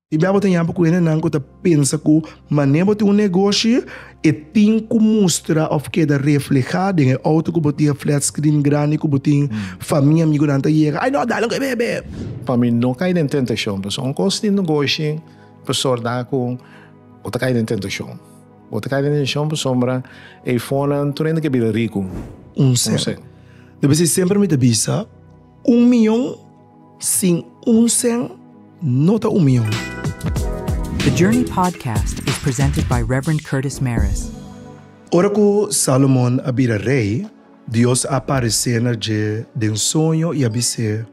I bia bo ta yampa ku hendenan ku ta pensa ku mané bo tin un negoshi e tin ku mustra òf keda reflehá den e outo ku bo tin, e flat screen grandi ku bo tin, famia, amigunan ta yega, ai nò, dale un kebé, b'e! Pa mi no kai den tentashon, pasobra unda un kos tin negoshi pasobra ta ku bo ta kai den tentashon. Bo ta kai den tentashon pasobra e fonan tur hende ke bira riku. Un sèn. Dor bisnis semper mi ta bisa un miyon. Sin unsèn no ta umion. The Journey Podcast is presented by Rev. Curtis Mares. Ora ku Salomon a bira rei, Dios a aparesé na dje den soño i a bis'é,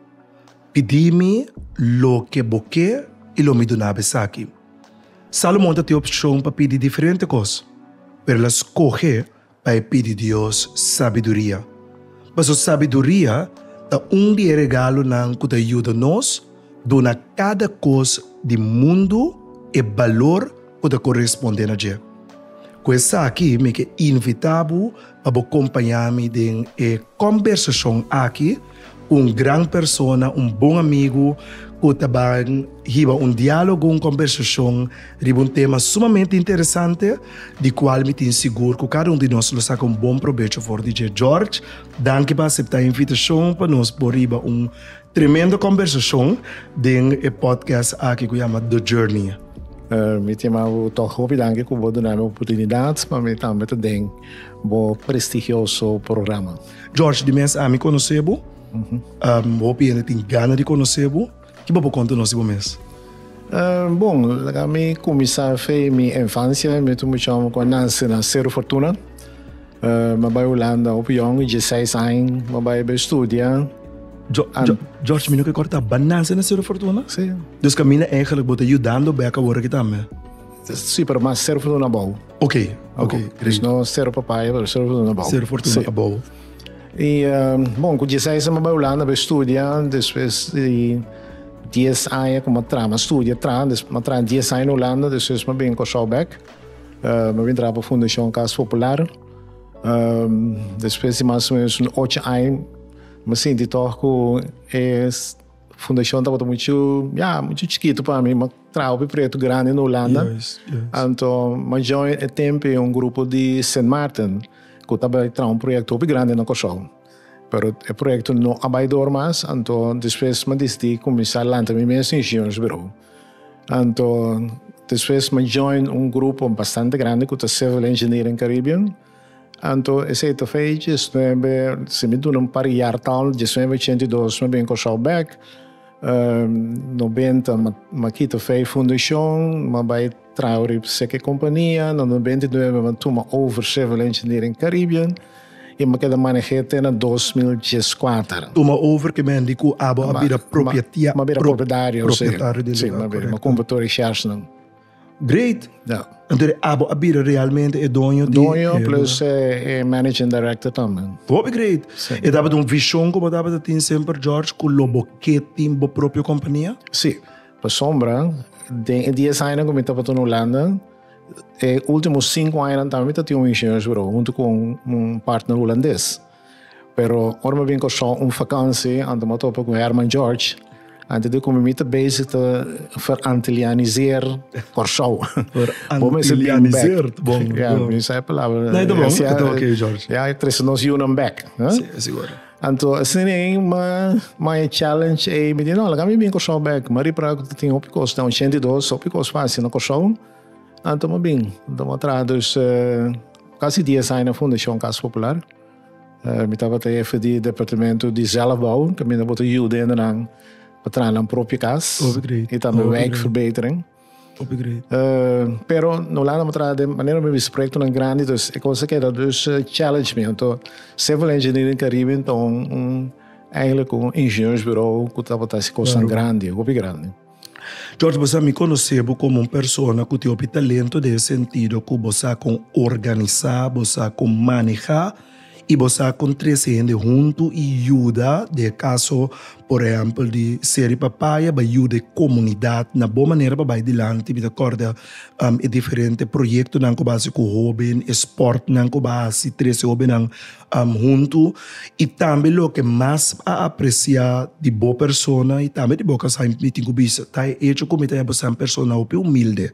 Pidí mi loke bo ke i lo mi duna'b esaki. Salomon ta tin opshon pa pidi diferente kos, pero el a skohe pa e pidi Dios sabiduria, paso sabiduria ta un di e regalonan ku ta yuda nos duna kada kos di mundu e balor ku ta koresponde na dje. Ku esaki mi ke invita bo pa bo kompaña mi den e kòmbersashon aki. ku un gran persona, un bon amigu ku ta ban hiba un diálogo, un kombersashon riba un tema sumamente interesante, di kual mi tin sigur ku kada un di nos lo saka un bon probecho for di dje. George, danki pa aseptá e invitashon pa nos por hiba un tremendo kombersashon den e pòdkast aki ku yama The Journey. Mi ta yama bo tòg hopi danki ku bo duna mi opurtunidat pa mi tambe ta den bo prestigioso programa. George, di mes ami konosé bo. Mm-hmm. Um, hopi hende tin gana di konosé bo. Ki bo por konta nos di bo mes? Uh, bon, laga mi kumisa fe mi infancia, mi tu mucha homi kon nase na Cerro Fortuna. Uh, ma bai Holanda hopi jong, 16 año, ma bai be studia. Jo, An- jo, George, mi no ke korta bananse na Cerro Fortuna? Sí. Dus kamina eigenlijk bo te ayudando beka wora ki tambe. Si, pero mas ser fortuna abou. Ok, ok. Dus no ser papaya, pero ser fortuna abou. Ser fortuna sí. abou. I, um, bon, ku diesseis anu bai Hulanda bai studia, despues di dies aña ku ma tra, ma studia tra, despues ma tra dies aña na Hulanda, despues ma bin Kòrsou bèk. Uh, ma bin traha pa Fundashon Kas Popular. Um, despues di mas o menos un ocho aña, ma sinti tòg ku e fundashon tabata muchu, ya, muchu chikitu pa mi, ma traha p'e proyekto grandi na Hulanda. Anto majó e tempu e un grupo di Sint Maarten ku ta bai traha un proyekto hopi grandi na Kòrsou. Pero e proyekto no a bai dor mas, anto despues mi a disití kuminsá lanta mi mes ingenieursbirou. Anto despues mi a join un grupo bastante grandi ku ta Civil Engineering Caribbean. Anto esei ta fei diesnuebe, si mi duna un par jaar tal, diesnuebe ochenta i dos mi bin Kòrsou bèk, nobenta m'a kita fei fundashon, m'a bai traha ori seke kompania, na nobenta i nuebe m'a tuma over Civil Engineering Caribbean i m'a keda maneh'é te na dos mil dies kuater. Tuma over ke mendi ku abo a bira propietario del lugar, korèkto. M'a bira propietario, si, m'a kumpra tur e sharesnan. Great. Ja. Entonces abo a bira realmente e doño di Doño e plus lugar. eh, eh, managing director también. Hopi great. Sí. E tabata un vision ku bo tabata tin semper George ku lo bo ke tin bo propio kompania? Sí, pa sombra, den e dies añanan ku mi tabata na Hulanda, e último sinku añanan tambe mi ta tin un ingenieursbureau huntu ku un, un partner hulandes. Pero ora mi a bin Kòrsou un fakansi, anto mi a topa ku Herman George, anto di kuma mi ta bezig ta verantilianiseer Kòrsou. Bo mester bin bèk. Verantilianiseer, ta bon. Ya, mi sa e palabra. No, ta bon, ta bon ki George. Ya, e trese nos yunan bèk. Si, e sigur. Anto asina ei mi a e challenge ei, mi di no, laga mi bin Kòrsou bèk. Mi a ripará ku ta tin hopi kos, den ochenta i dos hopi kos fásil na Kòrsou. Ah, toma bin. Toma traha dus eh, casi dies aña na Fundacion Casa Popular. Eh, mi tabata jefe di departamento di zelfbouw, que mi na bota yuda hendenan pa traha nan propia cas. Hopi great. Y tambe Hopi wijkverbetering. Hopi great. Eh, pero na Holanda mi traha de manera mi bisa proyectonan grandi, dus e cosa keda dus eh, challenge mi. Anto, civil engineering Caribbean ta un, un, eigenlijk un ingenieursbureau cu tabata hasi cosnan Claro. grandi, hopi grandi. George, bo sa mi konosé bo komo un persona ku tin hopi talento den e sentido ku bo sa kon organisá, bo sa kon manehá i bo sa kon trese hende huntu i yuda. Den e kaso, por ehèmpel, di Seri Papaya bai yuda e komunidat na bon manera pa bai dilanti. Mi ta kòrda e diferente proyektonan ku bo hasi ku hobennan, e spòrtnan ku bo hasi trese hobennan am huntu y tambe loke mas a aprecia di bo persona y tambe di bo kasa y mi tin cu bisa ta e hecho cu mi ta yaba ser persona hopi humilde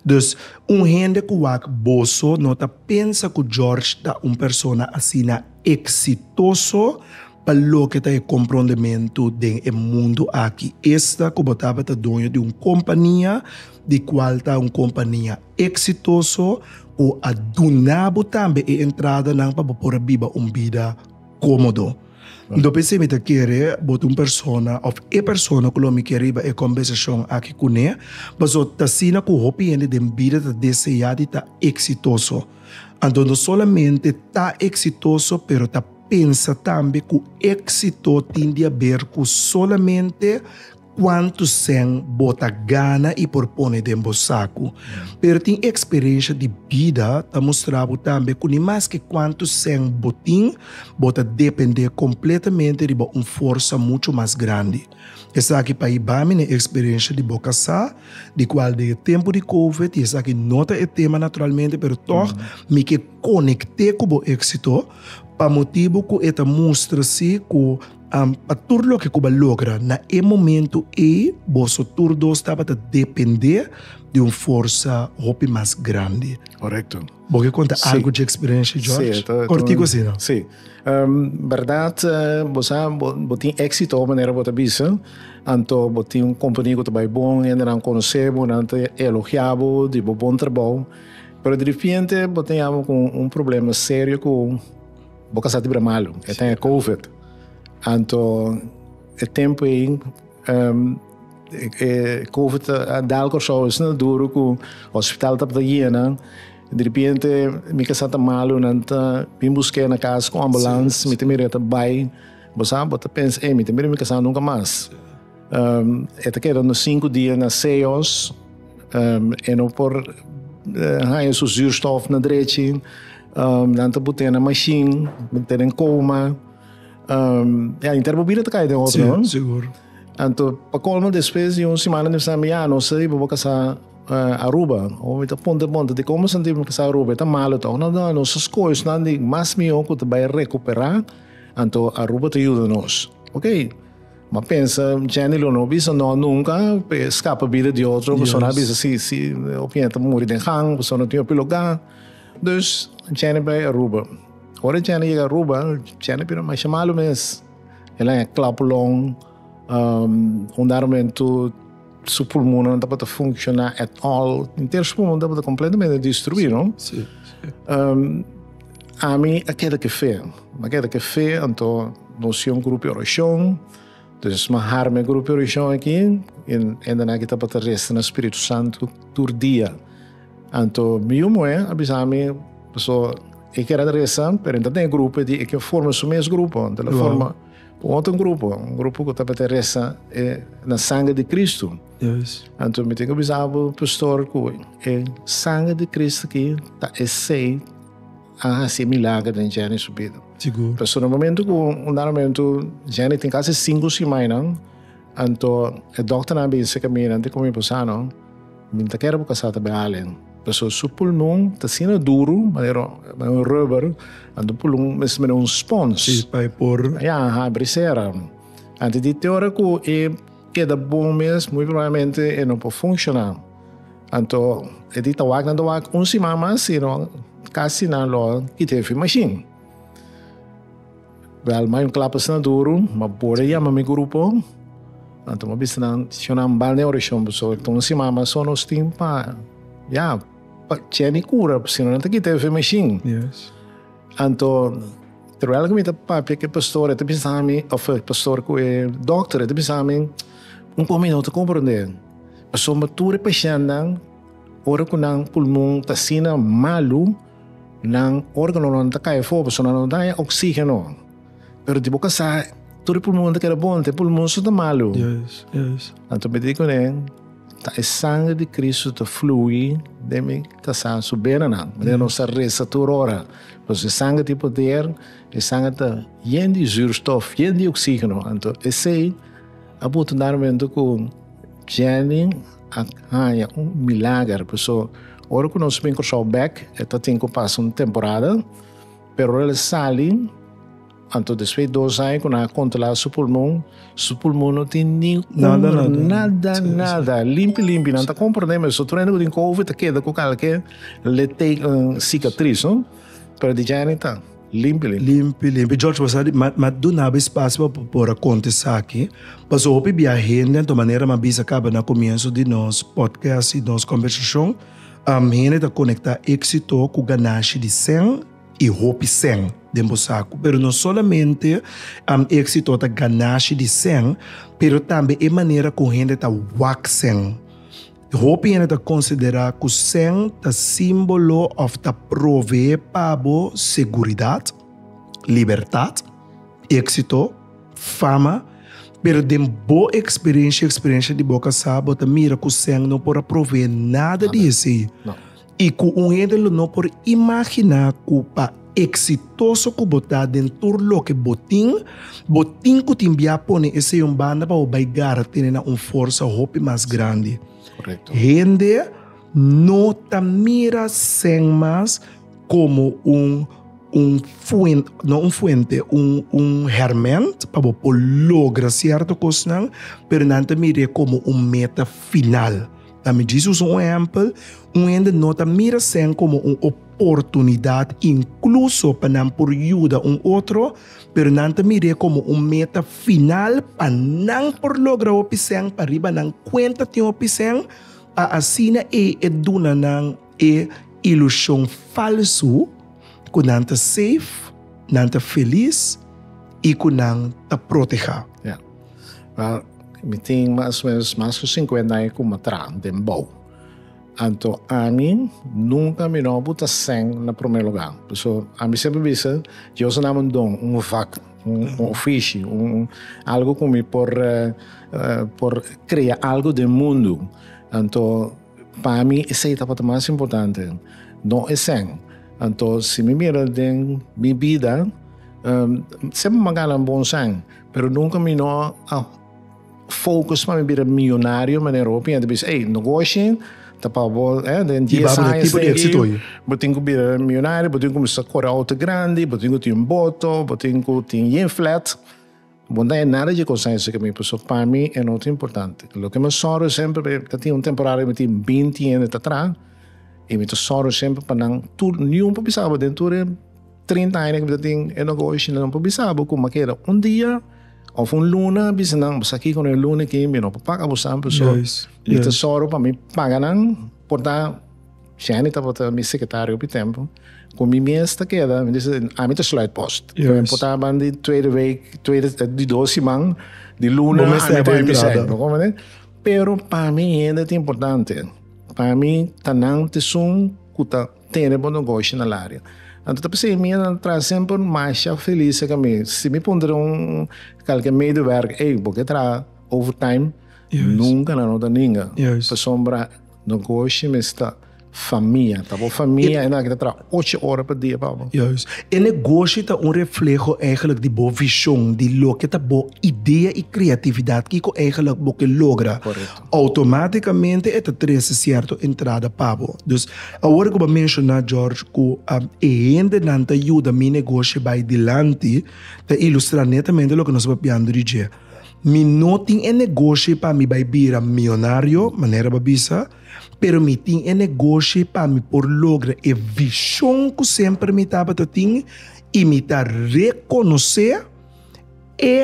dus un hende cu wak boso no ta pensa cu George ta un persona asina exitoso pa loke ta e comprondementu den e mundo aki esta cu bo tabata doño di un compania. di cual ta un compania exitoso cu a duna bo tambe e entradanan pa bo por a biba un bida comodo. Enton pensé mi ta kere bo ta un persona of e persona cu lo mi ke riba e combersacion aki cune, paso ta asina cu hopi hende den bida ta desea di ta exitoso. Anto no solamente ta exitoso pero ta pensa tambe cu exito tin di haber cu solamente Kuantu sèn bo ta gana i por pone den bo saku? Pero tin eksperensha di bida ta mustra bo tambe ku ni maske kuantu sèn bo tin, bo ta dependé kompletamente riba un forsa muchu mas grandi. Esaki pa hiba mi na e eksperensha di bo kasá, di kual den e tempu di Covid, i esaki no ta e tema naturalmente, pero tòg mi ke konekté ku bo éksito pa motibu ku e ta mustra si ku Am, pa tur loke ku bo a logra na e momentu ei, boso tur dos tabata dependé di un forsa hopi mas grandi. Korekto. Bo ke konta Sí. algu dje eksperensia, George? Sí, ta- ta Kortiku un- asina. Sí. Ehm, bèrdat, eh, bo sa, bo, bo tin éksito ora manera bo ta bisa, anto bo tin un kompani ku ta bai bon, hendenan konosé bo, nan ta elogiá bo di bo bon trabou, pero di ripiente bo ta yama ku un problema serio ku, Bo ka sa di bira malu, e ten e covid. Anto e tempo ei um, e covid a dal Kòrsou esnan duru ku hospital tabata yena. De repente mi ka sa ta malu, nan ta bin busk'é na kas ku ambulans, mi ta mira ta bai. Bo sa, bo ta pensa, ei, mi ta mira mi ka sa nunka mas. Um, e ta kedando sinku dia na Seos, um, e no por uh, eh, haya su zuurstof na drechi, um, nan ta bute na mashin, tenen coma, um, ja, inter bobina ta kaya den otro, sí, no? Seguro. Anto, pa colmo, después de un semana de samen, ja, no sé, bobo casa uh, Aruba, o me ta ponte ponte, de como sentí me casa Aruba, está malo, tá, no, no, no, sus coisas, não, de mais melhor que te vai recuperar, anto Aruba te ajuda nos, ok? Ma pensa, Jenny lo no bisa no nunca, pe scapa bida di otro, Yes. persona bisa si, si op yenta muri den gang, persona tin opi loga. Dus, Jenny bai Aruba. Ora Jenny yega Aruba, Jenny bira masha malu mes. El a haña klap long, um, un dado momento, Su pulmonnan no tabata funciona at all. Enter su pulmon tabata completamente destrui, no? Si, si. Um, ami a keda ke fe. Ma keda ke fe, anto nos yon grupi oracion. Dus ma harme grupi oracion aki, en enda naki tabata resta na Spiritu Santu tur dia. Anto mi yu moe a bisami, paso e keda resta, pero e ta den e grupo di e ke forma su mes grupo, anto el a forma. Un otro grupo, un grupo cu tabata resa e na sangre di Cristo. Anto mi tin cu bisa bo pastor cu e sangre di Cristo aki ta esey a haci milagro den Jenny su bida. Pasobra momento cu un dado momento Jenny tin casi cinco simaina. Anto e dokternan bin seka mi, nan di ku mi, Posano, mi ta kere bo kasa ta bin Allen, pasobra su pulmon ta asina duru, manera un rubber, anto bo pulmon ta mester manera un spons. Si, pa e por. Ya, a habri sera. Anto di te ora ku e keda bon mes, muy probablemente e no por funshoná. Anto e di ta wak, nan ta wak un siman mas, sino kasi nan lo kita e fin mashin. Wel, ma yon klap asina duru, ma bo ta yama mi grupo. Anto mi a bisa nan, shon nan bal den orashon pasobra ta un siman mas so nos tin pa, ya, pa Jenny kura, pasobra nan ta kita e fe mashin. Anto, terwijl ku mi ta papia ku e pastor, e ta bisa mi, òf e pastor, ku e dòkter, e ta bisa mi, Un kos mi no ta komprondé, pasobra tur e pashèntnan, ora ku nan pulmon ta asina malu, Nan organonan ta kai afo pasobra nan no ta haña oxígeno. Pero di bo kasá, tur e pulmonnan ta keda bon, ta e pulmon so ta malu. Anto mi di kuné, ta e sangre di Kristu ta flui den mi kasá su benanan. Manera nos ta resa tur ora. Pasobra e sangre tin poder, e sangre ta yen di zuurstof, yen di oxígeno. Anto esei a puntu na e mentu ku Jenny, a haña un milager paso ora ku nos bin Kòrsou bèk e ta tin ku pasa un temporada pero ora el sali anto despues dos aña ku nan a kontrolá su pulmon su pulmon no tin ni un nada nada limpi limpi nan ta komprendé mester tur hende ku tin covid ta keda ku kalke litekan sikatris no pero di djani ta Limpi limpi. Limpi limpi. George was a di, ma, ma dunaba espacio pa por a conta esaki, paso hopi bia hende anto manera mi a bisa caba na comienzo di nos podcast y nos conversacion, um, hende ta conecta exito cu ganashi di cen y hopi cen den bo sacu. Pero no solamente, um, exito ta ganashi di cen, pero tambe e manera cu hende ta wak cen. Hopi hende ta konsiderá ku sèn ta símbolo òf ta proveé pa bo seguridat, libertat, éksito, fama, pero den bo eksperensha i eksperensha di bo kasá bo ta mira ku sèn no por a proveé nada di esei. I ku un hende lo no por imaginá ku pa eksitoso ku bo ta den tur loke bo tin, bo tin ku tin bia pone esei un banda pa bo bai gara tene na un forsa hopi mas grandi. Hende no ta mira Sen mas komo un un fuente, no un fuente, un un herment pa bo por logra sierto kosnan, pero nan ta mir'é komo un meta final. Ta midjis usa un ehèmpel, un hende no ta mira sèn komo un oportunidat inkluso pa nan por yuda un otro, pero nan ta mir'é komo un meta final pa nan por logra hopi sèn pariba nan kuenta tin hopi sèn, pa asina ei e duna nan. E ilushon falsu ku nan ta seif, nan ta felis i ku nan ta protehá. Ya. Wel, mi tin mas o menos mas ku sinkuenta aña ku mi traha den bou. Anto ami nunka mi no por ta sèn na promé lugá. Pasobra ami semper bisa, Dios a dami un don, un vak, un ofishi, un algu ku mi por por krea algu den mundu. Anto Pa mi esei tabata mas importante, no esèn. Anto si mi mira den mi bida, semper mi a gana bon sèn, pero nunka mi no a focus pa mi bira millonario manera hopi hende bisa, ey, no goshi, ta pa bo den dies añas na aki bo tin cu bira millonario, bo tin cu cuminsa cora auto grandi, bo tin cu tin boto, bo tin cu tin yen flat. Bo no ta haña nada dje kosnan esaki mi, pasobra pa mi e no ta importante. Loke mi a sòru semper, mi ta tin un temporada mi tin binti hende ta traha, i mi ta sòru semper pa nan, tur, niun por bisa bo den tur e trinta aña ku mi ta tin e negoshi, niun por bisa bo kuma keda un dia òf un luna a bisa nan, bo sa kiko no e luna aki, mi no por paga bo sa, pasobra mi ta sòru pa mi paga nan por ta. Shani tabata mi secretario op e tempo, cu mi mes ta keda, mi dice, ami ta sluit post. Yes. Mi portaba ban di tweede week, tweede, di dos siman, di luna, ami ta en mi sec, bo comprende? Pero pa mi hende ta importante. Pa mi ta nan esun cu ta tene bo negoshi na el area. Anto ta p'esei mi a traha semper masha feliz cerca mi. Si mi puntra di un calke medewerker, ey, bo ke traha overtime? Yes. Nunca nan lo ta ninga. Yes. Pasobra. Don Koshi me sta famia, ta bo famia e na kita tra ocho ora pa dia pa bo. Juist. E negoshi ta un refleho eigenlijk di bo vishon, di loke ta bo idea i kreatividat kiko eigenlijk bo ke logra. Korekto. Automaticamente e ta trese sierto entrada pa bo. Dus awor ku bo a menshoná George ku e hendenan ta yuda mi negoshi bai dilanti ta ilustrá netamente loke nos ta papiando di dje. Mi no tin e negoshi pa mi bai bira mionario, manera bo a bisa, pero mi tin e negoshi pa mi por logra e vishon ku semper mi tabata tin i mi ta rekonosé e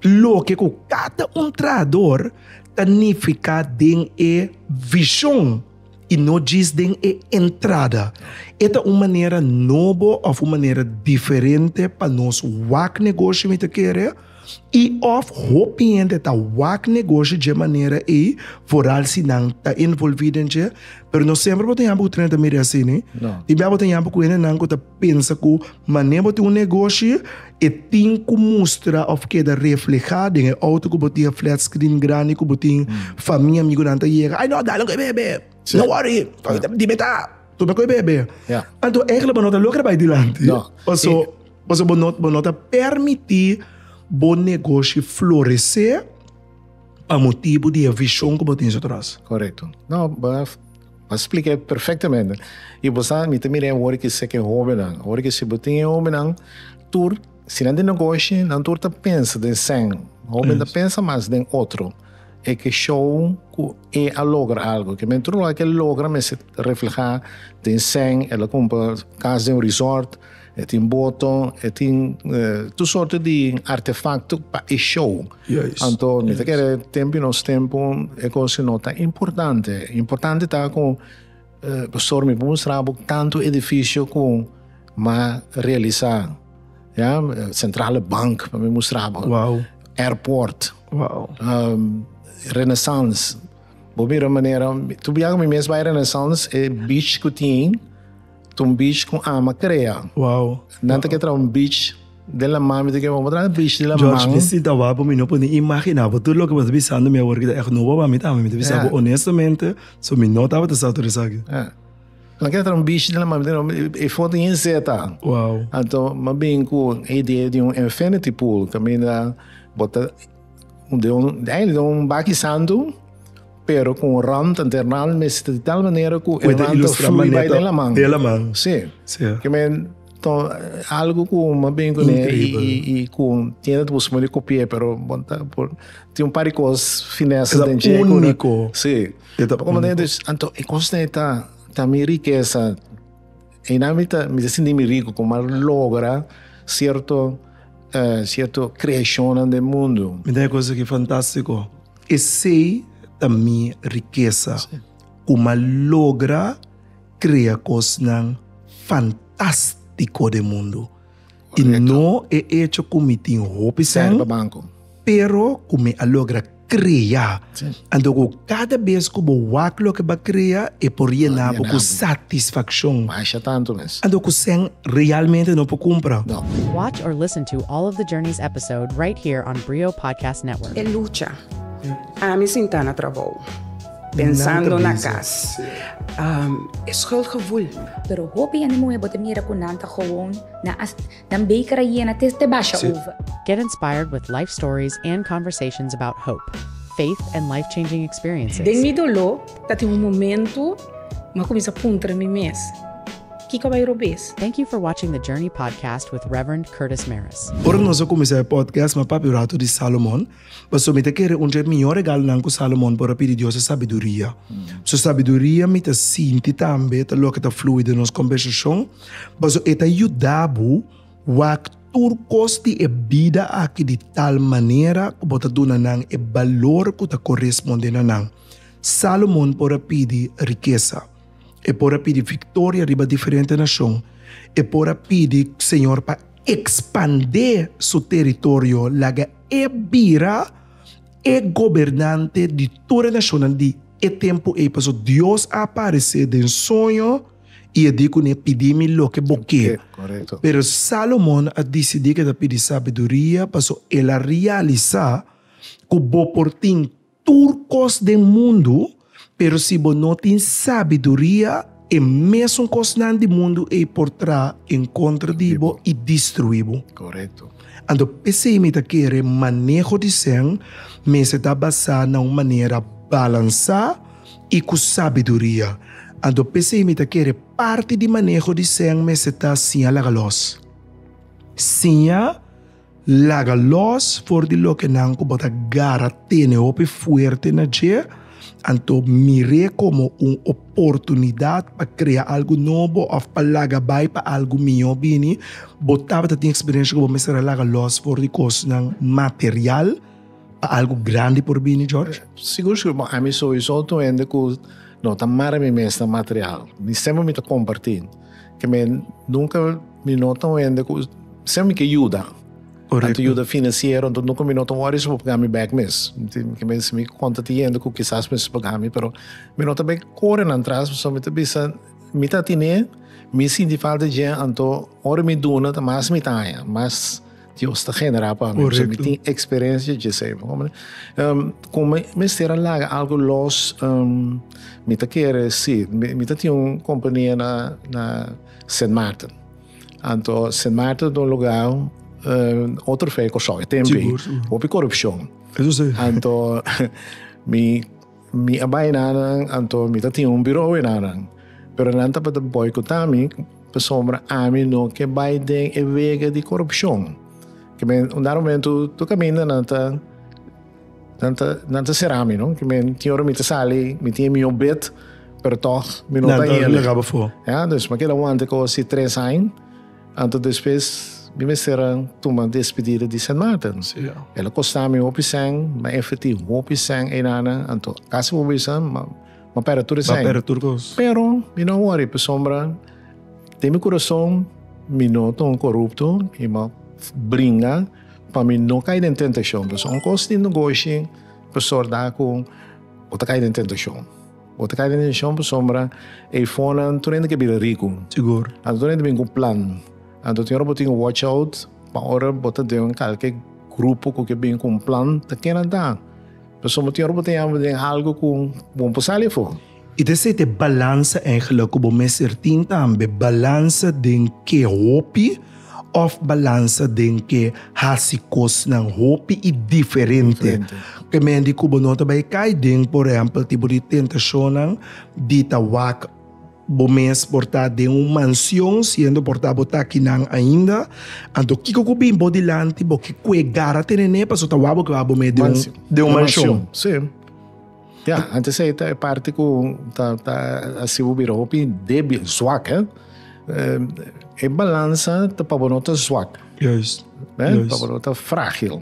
loke ku kada un trahador ta nifiká den e vishon. i no djis den e entrada. E ta un manera nobo òf un manera diferente pa nos wak negoshi mi ta kere i òf hopi hende ta wak negoshi dje manera ei foral si nan ta envolvi den dje pero no semper bo ta yama ku treinta mil real asina i bia bo ta yama ku hendenan ku ta. Pensa ku manera bo tin un negoshi e tin ku mustra òf keda reflehá den e outo ku bo tin, e flat screen grandi ku bo tin. Famia, amigunan ta yega, ai no, dale ku e bebe, no wòri, di me ta tumbe ku e bebe. Anto eigelik bo no ta logra bai dilanti, paso paso bo no bo no ta permití bo negoshi floresé pa motibu di e vishon ku bo tin so tros. Korekto. No bo. A spliké perfectamente. Y bo sa, mi ta mir'é wor ki seke hobennan. Wor ki si bo tin e hobennan tur, si nan tin negoshi, nan tur ta pensa den sèn. Hoben ta pensa mas den otro. E ke show ku e a logra algu. Ke men tur lugá ku e logra mester reflehá den sèn, el a kumpra kas den un resort. E tin boton, e tin tur sorte di artefakto pa e show. Anto mi ta kere tempu i nos tempu e kos no ta importante. Importante ta ku pastor mi por mustra bo tantu edifisio ku m'a realisa. Ya, sentrale bank por mi mustra bo, airport, renesans. Bo mira manera, tur bia ku mi mes bai renesans e beach ku tin. Ta un beach ku ama krea. Wow. Nan ta ke tra un beach den la man, mi ta ke wou tra un beach den la man. George, mi si ta wak, mi no por ni imagina bo tur loke bo ta bisa mi awor aki ta ègt nobo pa mi tambe. Mi ta bisa bo honestamente, so mi no tabata sa tur esaki. Nan ke tra un beach den la man, mi ta ke wou e foto yin zeta. Wow. Anto mi a bin ku e idea di un infinity pool kaminda bo ta. De un eindelijk de un baki santu, pero ku un rant enter nan al mester di tal manera ku e rant ta flui bai den laman. Den laman. Si. Si. Ke men to algu ku mas bien kuné i ku tiene ta busca di kopi'é pero bon ta por tin un par di kos finesa den dje. Ta úniko. Si. E ta úniko. Anto e kos ta ta mi rikesa. Eina mi ta mi ta sinti mi rico como a logra cierto uh, cierto creacionnan den mundo. Mi ta cosa que fantástico. Esei ta mi riqueza. Sí. Como a logra crea cosnan fantástico den mundo. I no e echo ku mi tin hopi sèn, pero ku mi a logra krea. Anto ku kada bes ku bo wak loke bo a krea, e por yena bo ku satisfakshon. Anto ku sèn realmente no por kumpra. Watch or listen to all of the journeys episode right here on Brio Podcast Network. E lucha. Ami sinta na trabou. Pensando na cas. E schuldgevoel. Pero hopi ene muhe bo ta mira cu nan ta gewoon na a nan beker a yena te te basha over. Get inspired with life stories and conversations about hope, faith and life-changing experiences. Den mi dolo ta tin un momento mi a cuminsa puntra mi mes, Kico bay robes? Thank you for watching the Journey Podcast with Reverend Curtis Maris. Ora nos a cuminsa e podcast mi a papia un rato di Salomon. Pasobra mi ta kere un dje mihó regalonan ku Salomon por a pidi Dios e sabiduria. Su sabiduria mi ta sinti tambe ta loke ta flui den nos kombersashon, pasobra e ta yuda bo wak tur kos di e bida aki di tal manera ku bo ta duna nan e balor ku ta koresponde na nan. Salomon por a pidi rikesa, e por a pidi viktoria riba diferente nashon, e por a pidi Señor pa ekspandé su teritorio laga. E bira e gobernante di tur e nashonnan di e tempu ei, paso Dios a aparesé den soño i a di ku ne, Pidí mi loke bo ke. Pero Salomon a disidí ku e ta pidi sabiduria, paso el a realisá ku bo por tin tur kos den mundu, pero si bo no tin sabiduria, e mesun kosnan di mundu ei por tra en kontra di bo i destruí bo. Korekto. Anto p'esei mi ta kere maneho di sèn mester ta basá na un manera balansá i ku sabiduria. Anto p'esei mi ta kere parti di maneho di sèn mester ta siña laga lòs, siña. Laga lòs for di lokenan ku bo ta gara tene hopi fuerte na dje, anto mir'é komo un oportunidat pa krea algu nobo òf pa laga bai pa algu mihó bini. Bo tabata tin eksperensia ku bo mester a laga lòs for di kosnan material pa algu grandi por bini, George? Sigur, sigur. Bon, ami sowiso ta un hende ku no ta mara mi mes na material. Mi semper mi ta kompartí. ke mi nunka mi no ta un hende ku siempre mi ke yuda. Correcto. Anto yuda financiero, anto nunka mi no ta worry su por paga mi back mes. Ke mi si mi konta tin hende ku kisas mi su paga mi, pero mi no ta bai kore nan tras pasobra mi ta bisa mi ta tine, mi sinti falta dje anto ora mi duna ta mas mi ta haña, mas Dios ta genera pa mi. So mi tin experiencia dje sei. Como um, como mester a laga algo los um, mi ta kere si mi, mi ta tin un compañía na na Sint Maarten. Anto Sint Maarten don lugar um, otro fe ko so tempi. Hopi corruption. Eso sei. Anto mi Mi a bai na nan, anto mi ta tin un biro awe na nan. Pero nan tabata boikotá mi pasobra ami no ke bai den e wega di korupshon. Ke men unda momentu tur kaminda nan ta nan ta nan ta será mi, no? Ke men tin ora mi ta sali, mi tin e mion bet, pero tòg mi no ta yende. Ya, dus mi a keda wanta ku si tres aña. Anto despues mi mester a tuma despedida di Sen Maarten. El a kosta mi hopi sèn, mi a enverti hopi sèn einana, anto kasi por bisa mi a pèrdè tur e sèn. Mi a pèrdè tur kos. Pero mi no a wòri pasobra den mi kurason mi no ta un korupto i mi a bringa pa mi no kai den tentashon. Pasobra ungkos tin negoshi por sòrt dal ku bo ta kai den tentashon. Bo ta kai den deshishon pasobra e fonnan tur hende ke bira riku. Sigur. Anto tur hende bin ku plan. Anto tin ora bo tin ku watch out pa ora bo ta den kalke grupo ku ke bin ku un plan ta kena ta. Pasobra tin ora bo ta yama den algu ku bo no por sali afo. I ta esei ta e balansa, Angela, ku bo mester tin tambe. Balansa den ke hopi? Of balansa den ke hasi kosnan hopi i diferente. Ke men di ku bo no ta bai kai den, por ehèmpel, tipo di tentashonnan di ta wak bo mes por ta den un mansion siendo por ta bo ta akinan ainda. Anto kiko ku bin bo dilanti? Bo ke kuegar a tenen'é pasobra ta wak bo ke bo a bo mes den un mansion? Ya, antes ei ta e parti ku ta ta hasibo bira hopi débil, zwak, hè. E balansa ta pa bo no ta zwak. Juist. Hè, pa bo no ta frágil.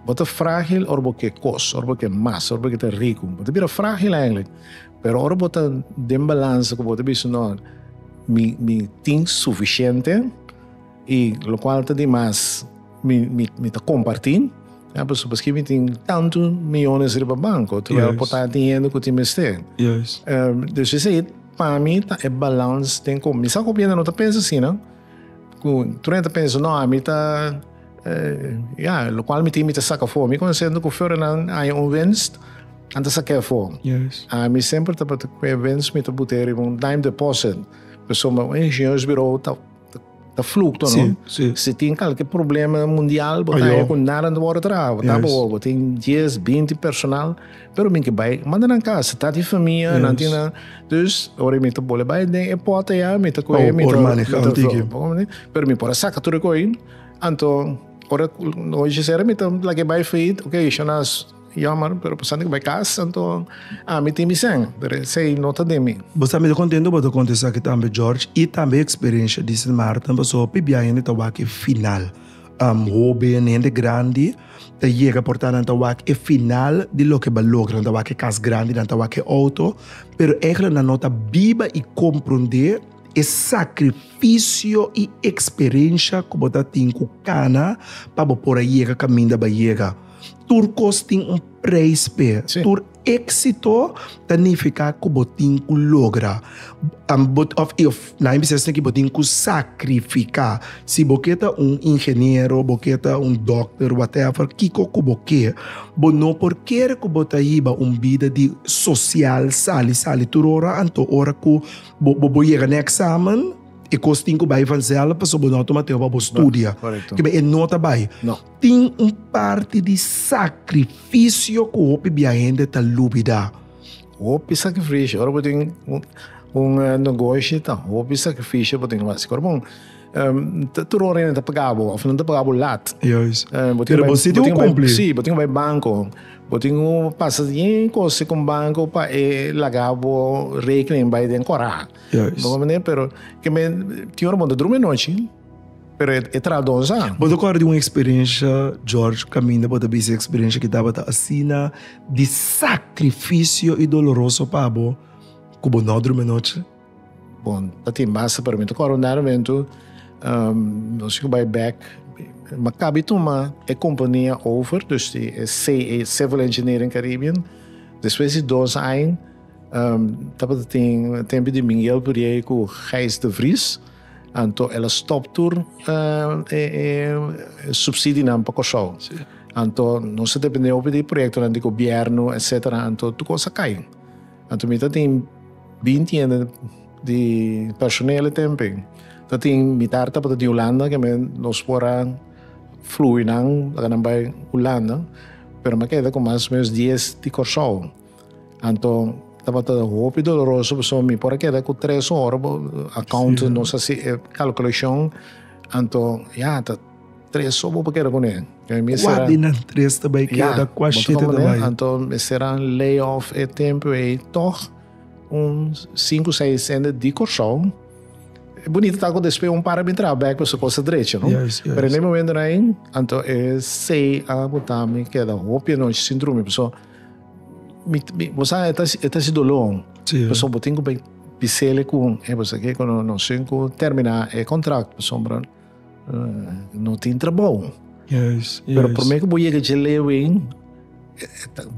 Bo ta frágil ora bo ke kos, ora bo ke mas, ora bo ke ta riku. Bo ta bira frágil eindelijk. Pero ora bo ta den balansa ku bo ta bisa, no, mi mi tin sufisiente. Y locual ta di mas mi mi mi ta comparti ya pasobra paskei mi tin tantu miyones riba banko terwijl Juist. por ta tin hende ku tin mester Juist. Ehm, dus esei pa mi ta e balans den kom mi sa ku bienda no ta pensa asina ku Trina ta pensa no a mi ta eh, ya lokual mi tin mi ta saka for mi konsento ku Ferdinand haña un winst a ta sak'e for Juist. a mi semper tabata ku e winst mi ta but'e riba un time deposit pasobra un ingenieursbureau ta ta flucto, sí, no? Sí. Si tin kalke problema mundial, bo ta ku nada no word tra, bo ta bo, bo tin 10, 20 personal, pero min ke bai, manda nan kas, ta di famia, nan tin nan. Dus, ora mi ta bole bai den e pota ya, mi ta koe, mi ta antiki. Pero mi por saka tur koi, anto ora no gisera mi ta lage bai faid, ok, shona Yammer, pero pasobra cu bai cas, anto ami tin mi seng, pero esey no ta den mi. Bo sa mester contento bo ta conta esaki tambe George y tambe experiencia di Sint Maarten pasobra pip di aña hende ta wak e final. Hoben, hende grandi ta yega por ta nan ta wak e final di loke bo a logra, nan ta wak e cas grandi, nan ta wak e auto, pero egle nan no ta biba y compronde e sacrificio y experiencia cu bo ta tin cu cana pa bo por a yega caminda bo a yega. Tur kos tin un preis p'e. Tur éksito ta nifiká ku bo tin ku logra. Na e bisnes aki bo tin ku sakrifiká. Si bo ke ta un ingeniero, bo ke ta un dòkter, whatever, kiko ku bo ke, bo no por kere ku bo ta hiba un bida di sosial sali sali tur ora. Anto ora ku bo yega na e eksamen, e kos tin ku bai vanzèlf pasobra bo no a tuma tempu pa bo studia. Korekto. Kib'e? E no ta bai. No. Tin un parti di sakrifisio ku hopi bia hende ta lubidá. Hopi sakrifisio. Ora bo tin un negoshi, ta hopi sakrifisio bo tin ku hasi. Ora bon, tur ora nan ta paga bo òf nan ta paga bo lat. Juis. Pero bo sinti bo kumpli. Sí, bo tin ku bai banko. Bo tin ku pasa yen kos ku banko pa e laga bo rekening bai den kòrá. Juis. Bo komprende'e? Pero kimen tin ora bo ta drumi anochi. Pero e e traha dos an. Bo ta kòrda di un eksperensha, George, kaminda bo ta bisa e eksperensha ki tabata asina di sakrifisio i doloroso pa bo ku bo no drumi anochi? Bon, ta tin basta pa mi. Ta kòrda un dada momentu, nos tin ku bai bèk, mi a kabi tuma e kompania over, dus di e CE, Civil Engineering Caribbean. Despues di dos aña tabata tin tempu di Miguel Puriei ku Gijs de Vries. Anto el a stop tur eh, e, e subsidinan pa Kòrsou. Sí. Anto nos depende hopi di proyektonan di gobièrnu, etsetera, anto tur kos a kai. Anto mi ta tin bin tiende di personel e tempe. Ta tin mitar tabata di Hulanda ke men nos por a flui nan laga nan bai Hulanda, pero mi a keda ku mas o menos dies di Kòrsou. Anto tabata hopi doloroso paso mi por queda cu tres hora account sí. nos así eh, calculación anto ya ta tres hora por queda con él mi será dinan tres te bai queda qua siete te bai anto mi será layoff e tempo e toch un cinco seis cende di Curaçao bonito ta cu después un para mi trabajo back paso cosa derecho no yes, yes. pero en el momento na anto e sei a botami queda hopi noche sin drumi paso Mi, mi, bo sa, e ta, e ta si doló. Sí. Pasobra bo tin ku bai pisele ku un, e pasobra ke kono no sin ku terminá e kontrakto, pasobra no tin trabou. Yes, yes. Pero promé ku bo yega dje Leeuwin,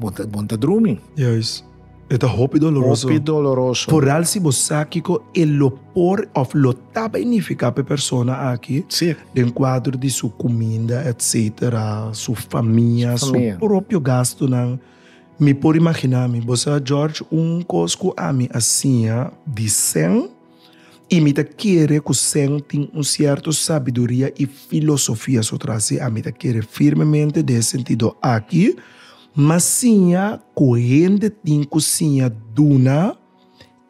bo ta, bo ta drumi. Yes. E ta hopi doloroso. Hopi doloroso. Foral si bo sa kiko e lo por of lo Ta benifiká pa e persona aki den kuadro di su kuminda etsetera, su famia, su propio gastunan. Mi por imaginá mi, bo sa George, un kos ku ami a siña di sen i mi ta kere ku sen tin un sierto sabiduria i filosofia so tras si ami ta kere firmemente den e sentido aki, M'a siña ku hende tin ku siña duna.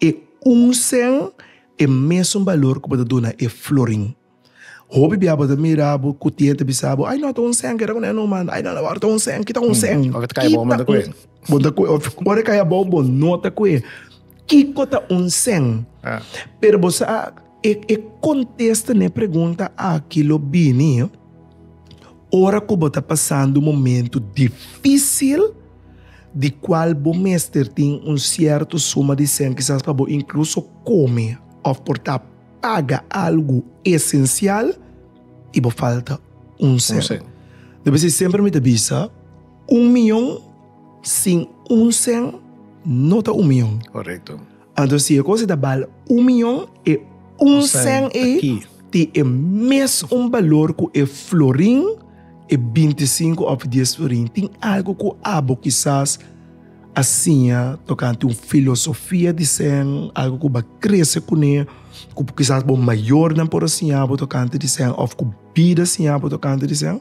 E un sen e mesun balor ku bo ta duna e florin. Hopi bia bo ta mira bo ku tien ta bisa bo, ai no, ta un sen, keda kuné no manda, ai no, no, ora ta un sen, kita un sen. Ora ta kai abou bo no ta kue. Bo no ta kue, of ora e kai abou bo no ta kue. Kiko ta un sen? Pero bo sa. E e kontesta na e pregunta aki lo bini ora ku bo ta pasando momentu difisil di kual bo mester tin un sierto suma di sèn kisas pa bo inkluso kome òf por ta paga algu esensial i bo falta un sèn. Lo besi semper mi ta bisa un miyon sin un sèn no ta un miyon. Anto si e cosa ta bal un miyon, e un sen ei tin e mes un balor cu e florin, e bintisinco of dies florin. Tin algo cu abo kisas a siña tocante un filosofia di sen, algo cu bo a crece cu ne, cu kisas bo mayornan por a siñabo tocante di sen of cu bida a siñabo tocante di sen?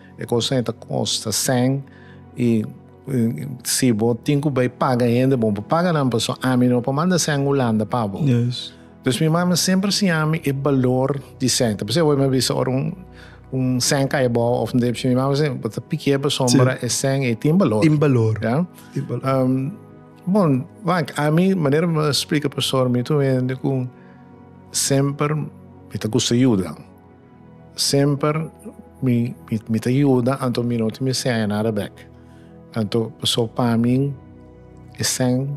E cosa ei ta costa sen y si bo tin cu bay paga hende bo bo paga nan paso ami no por manda sen Hulanda pa bo pues mi mama semper siña mi e balor di sen ta por eso awor mi a bisa ora un sen cay abao of nde mi mama siempre bo ta pikia e pasobra ora e sen ei tin balor tin balor bon wak ami manera mi a splica pasobra mi tu hende cu semper mi ta gusta yuda. Semper mi mi ta yuda anto mi no tin mi seña nada bek. Anto paso pa mi e señ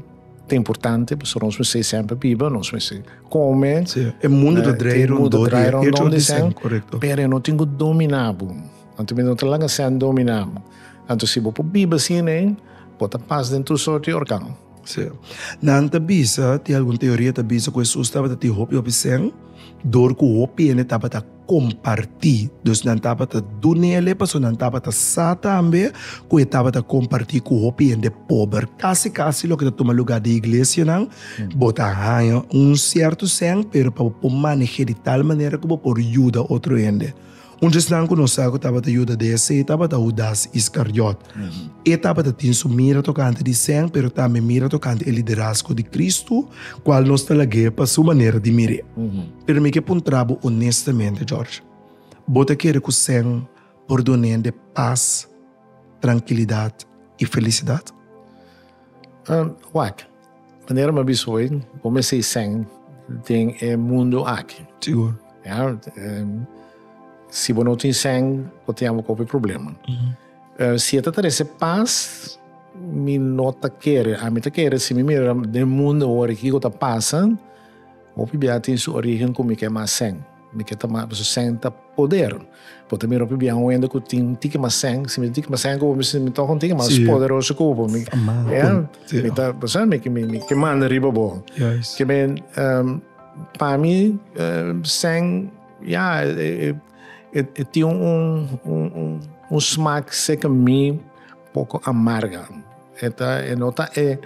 ta importante paso nos mester semper biba, nos mester come, Sí, e mundo ta draai rondó di e, draai rondon di e otro señ, señ, korekto. pero e no tin ku dominá bo. Anto mi no ta laga e señ dominá bo. Anto si bo por biba sin e, bo ta pas den tur sort di organ. Sí. Nan ta bisa, tin algun teoria ta bisa ku Hesus tabata tin hopi hopi sen, dor ku hopi hende tabata kompartí. Dus nan tabata duna nele, pasobra nan tabata sa tambe ku e tabata kompartí ku hopi hende pober. Kasi kasi loke ta tuma lugá den iglesianan, bo ta haña un sierto sen, pero pa bo por manej'é di tal manera ku bo por yuda otro hende. Un di esnan ku nos sa ku tabata yuda dc tabata Hudas Iskariot. E tabata tin su mira tokante di Sèn, pero tambe mira tokante e liderazgo di Kristu, kual nos ta lag'é pa su manera di mir'é. Pero mi ke puntra bo onestamente, George, bo ta kere ku Sèn por dun'é de pas, trankilidat i felisidat? Wak, Manera mi a bisa hoy, bo mester e sèn den e mundu aki. Sigur. Ya, si bo no tin sèn, bo tin aba kopi problema. Si e ta trese pas, mi no ta kere. Ami ta kere si mi mira den mundu awor e kiko ta pasa, hopi bia tin su origen ku mi ke mas sèn. Mi ke ta mata su sèn ta poder. Bo ta mira hopi biaha un hende ku tin tiki mas sèn. Si mi tin tiki mas sèn ku bo mi sinti mi tòg un tiki mas poderoso ku bo. Mi ta pensá mi ke manda riba bo. Ke men, pa mi sèn ya e tin un smak sèker mi. Poco amarga. E ta e no ta e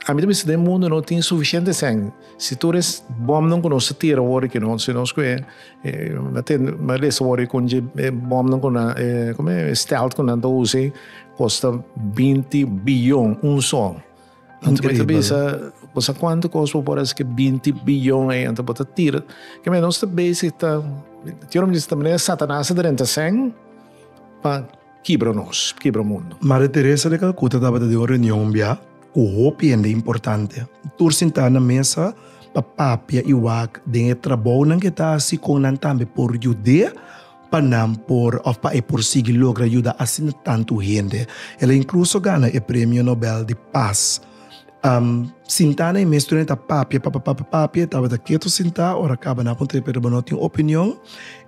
a mi ta bisa den mundo no tin suficiente sèn si tur es bòmnan ku nos a tira wòrdu ke no si nos ku e mi ta lesa wòrdu kon dje e bòmnan ku nan e kome stèlt ku nan ta usa kosta binti biyon un sò anto mi ta bisa kusa kuantu kos bo por hasi ku e binti biyon ei anto bo ta tira ke mi nos ta basic ta yòrdumisti ta manera satanas ta drenta sèn pa. kibra nos, kibra mundu. Madre Teresa de Calcuta tabata den un reunion bia cu hopi hende importante. Tur sintá na mesa pa papia i wak den e trabounan cu e ta haci con nan tambe por yud'é pa nan por of pa e por sigui logra yuda asina tantu hende. El a incluso gana e Premio Nobel di Paz. Am sintá na e mes tur en ta papia papia papia papia e tabata keto sintá ora kaba nan puntra pero bo no tin opinion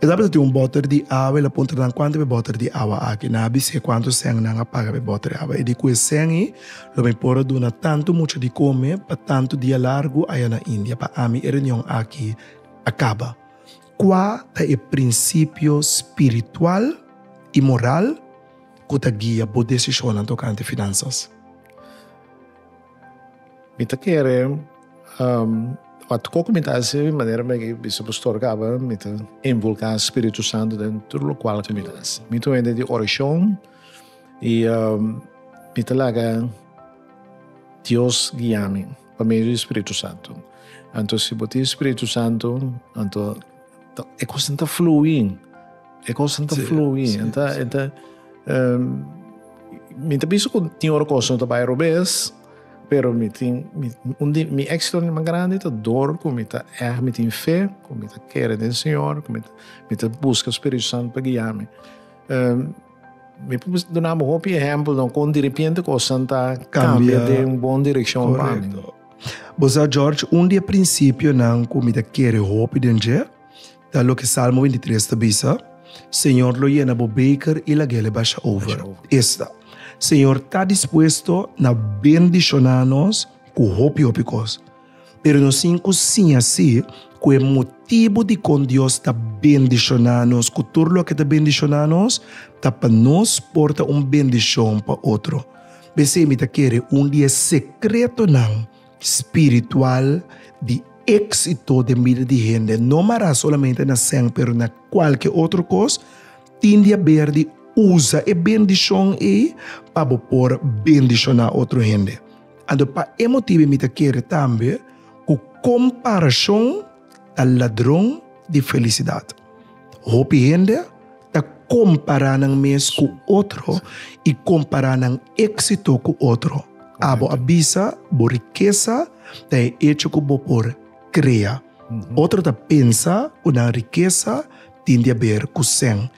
e tabata tin un boter di awa el a puntra nan kuantu be boter di awa aki nan a bis'é kuantu sèn nan a paga be boter di awa e di ku e sèn i lo mi por a duna tantu mucha di kome pa tantu dia largu aya na India pa ami e reunion aki a kaba kua ta e prinsipio spiritual i moral ku ta guia bo desishonnan tokante finansas? Mi ta kere um ora koko mi ta hasi e manera mi a bisa Pastor Gaba mi ta invulka Spiritu Santu den tur lokual ku mi ta hasi mi ta hende di orashon i um mi ta laga Dios guia mi pa medio di Spiritu Santu anto si bo tin Spiritu Santu anto E kosten ta fluin. E kosten ta fluin. Sí, enta, sí. enta, um, mi ta piensa ku tin ora kosten ta bai robes, pero mi tin, mi, un di mi éksito mas grandi ta dor ku mi ta ègt mi tin fe, ku mi ta kere den Señor, ku mi ta, mi ta buska Spiritu Santu pa guia mi. Um, mi por duna bo hopi ehèmpelnan kon derepente kosnan ta kambia den bon direkshon pa mi. Bo sa, George, un di e prinsipionan ku mi ta kere hopi den dje ta loke Salmo binti tres ta bisa, Señor lo yena bo beker i lag'el e basha over. Esta, Señor ta dispuesto na bendishoná nos ku hopi hopi kos, pero no sin ku siña si ku e motibu dikon Dios ta bendishoná nos ku tur loke ta bendishoná nos ta pa nos por ta un bendishon pa otro. P'esei mi ta kere un di e sekretonan spiritual di éksito den bida di hende, no mará solamente na sèn pero na kualke otro kos, tin di haber di usa e bendishon ei pa bo por bendishoná otro hende. Anto pa e motibu ei mi ta kere tambe ku komparashon. ta ladron di felisidad. Hopi hende ta compara nan mes cu otro y compara nan exito cu otro. Abo a bisa bo rikesa ta e echo cu bo por crea. Otro ta pensa cu nan rikesa tin di aber cu sen.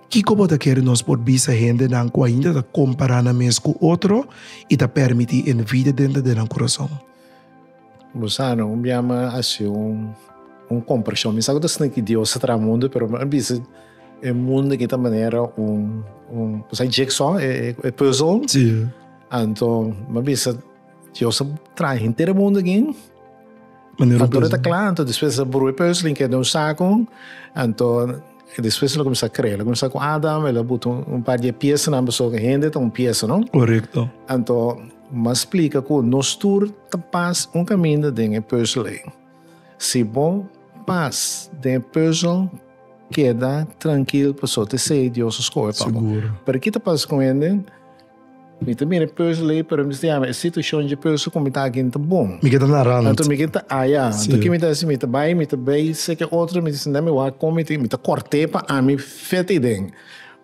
Kico bo ta kere nos por bisa hendenan cu ainda ta compara nan mes cu otro y ta permiti envidia dentro den nan curason? Gusano un bia mi a hasi un kompreshon. Mi sa ku ta snun ku Dios a traha mundu, pero mi a bisa e mundu kita manera un, ku sa e jigsaw, e puzzle. Anto mi a bisa Dios a traha henter e mundu akin, factura ta kla, anto despues a bru e puzzle, keda den un saku, anto despues el a kuminsá krea. El a kuminsá ku Adam, el a butu un par di e piesnan, pasobra hende ta un piesa, no? Anto. M'a splika cu nos tur ta pas un caminda den e puzzel ey. Si bo pas den e puzzel, keda trankil pasobra t'esey Dios a scoge pa bo. Pero ki ta pasa cu hende? Mi ta mira e puzzel ey, pero mi ta yama e situacion dje puzzel cu mi ta aki n'ta bon. Mi keda na rand. Anto mi keda ta aya. Anto ki mi ta haci? Mi ta bay, mi ta bay seke otro, mi ta sinta mi wak con, mi ta corte pa ami fete ey den.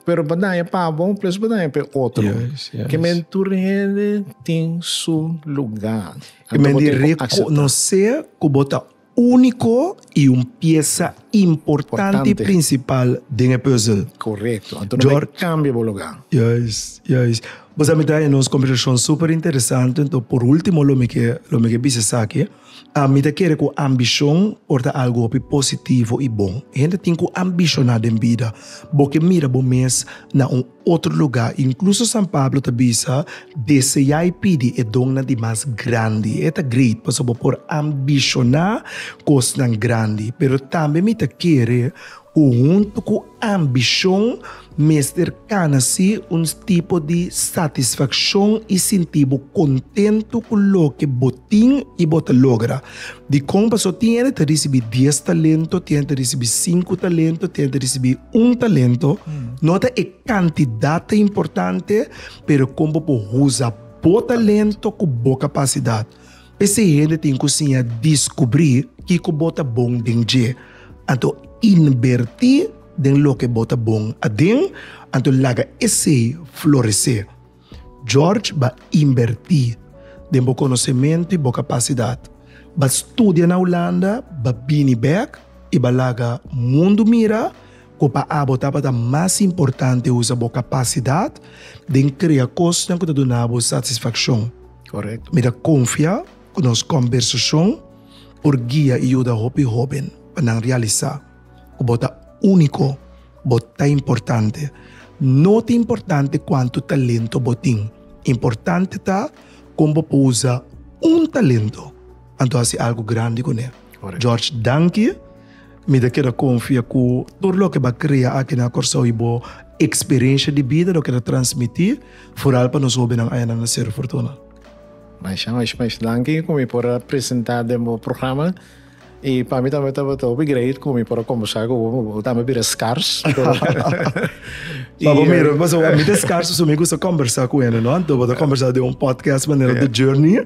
Pero bo daña pa bo, plus bo daña pa e otro. Yes, yes. Que men tur hende tin su lugar. Que men di reconocer cu bo ta único y un pieza importante, principal den e puzzel. Correcto. Anto no bay cambia bo lugar. Juist, juist. Bo sa mi trae nos conversacion super interesante, anto por ultimo lo mi ke, lo mi ke bisa esaki. A Mi ta kere ku ambishon por ta algu hopi positivo i bon. Hende tin ku ambishoná den bida. Bo ke mira bo mes na un otro lugá. Inkluso San Pablo ta bisa, Deseá i pidi e donnan di mas grandi. E ta great pasobra bo por ambishoná kosnan grandi. Pero tambe mi ta kere ku huntu ku. Ambishon mester kana si un tipo di satisfakshon i sinti bo kontentu ku loke bo tin i bo ta logra. Dikon paso? Tin hende ta risibi dies talento, tin hende ta risibi sinku talento, tin hende ta risibi un talento. No ta e kantidat ta importante, pero kon bo por usa bo talento ku bo kapasidat. P'esei hende tin ku siña diskubrí kiko bo ta bon den dje, anto inbertí den loke bo ta bon aden, anto laga esei floresé. George ba inbertí den bo konosementu i bo kapasidat, ba studia na Ulanda, ba bini bèk i ba laga mundu mira ku pa abo tabata mas importante usa bo kapasidat den krea kosnan ku ta duna bo satisfakshon. Correct. Mi ta confia cu nos conversacion por guia y yuda hopi hoben pa nan realisa cu bo ta unico, bo ta importante. No ta importante cuanto talento bo tin, importante ta con bo por usa un talento anto haci algo grandi cu ne. Correct. George danki. Mi ta keda konfia ku tur loke bo a krea aki na Kòrsou i bo eksperensha di bida loke ta transmití fural pa nos hóbennan ayanan na Seru Fortuna. Masha masha masha danki ku mi por a presentá den bo programa. I pa mi tambe tabata hopi greit ku mi por a kombursá ku bo, bo tambe a bira skars. Pa bo mira, paso mi ta skars so mi gusta kombursá ku hende, no? Anto bo ta kombursá den un podcast manera The Journey.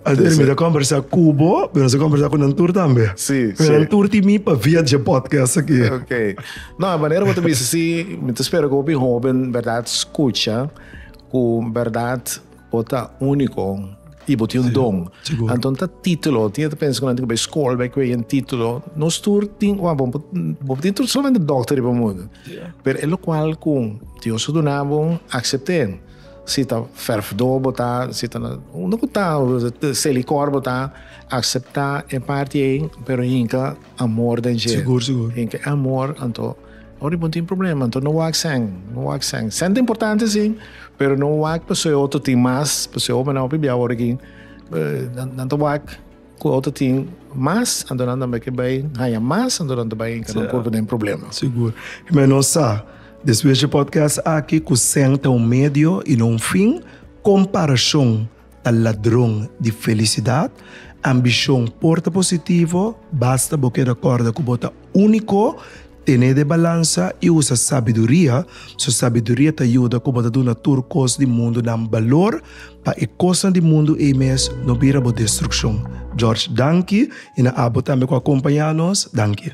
Alder, mi ta kombersá ku bo, pero nosha kombersá ku nan tur tambe. Sí, Pero sí. nan tur tin mi pabia dje podcast aki. Ok. No, e manera bo ta bisa si, mi ta spera ku hopi hóben bèrdat skucha ku bèrdat bo ta úniko i bo tin un don. sigur. Anton ta título, tin e ta pensa ku nan tin ku bai skol bai kuei un título. Nos tur tin, wak, bo, bo tin tur solamente dòkter riba mundu. Pero e lokual ku Dios a duna bo, aksept'é. Si ta ferfdor bo ta, si ta na unda ku ta selikor bo ta, akseptá e parti ei, pero hinka amor den dje. Sigur, sigur. Hinka e amor, anto ora di bo no tin problema, anto no wak sèn, no wak sèn. Sèn ta importante si, pero no wak pasobra e otro tin mas, pasobra hopi biaha ora ki nan ta wak. Cu otro tin mas anto nan tambe ke bay haya mas anto nan ta bay enca nan por den problema. Sigur. Jimé nos sa despues dje podcast aki cu sèn ta un medio y no un fin, comparacion ta ladron di felicidad, ambicion por ta positivo basta bo keda corda cu bo ta unico Tene de balansa i usa sabiduria, so sabiduria ta yuda ku bo ta duna tur kos di mundunan balor, pa e kosnan di mundu ei mes no bira bo destrukshon. George, danki, i na abo tambe ku a kompañá nos, danki.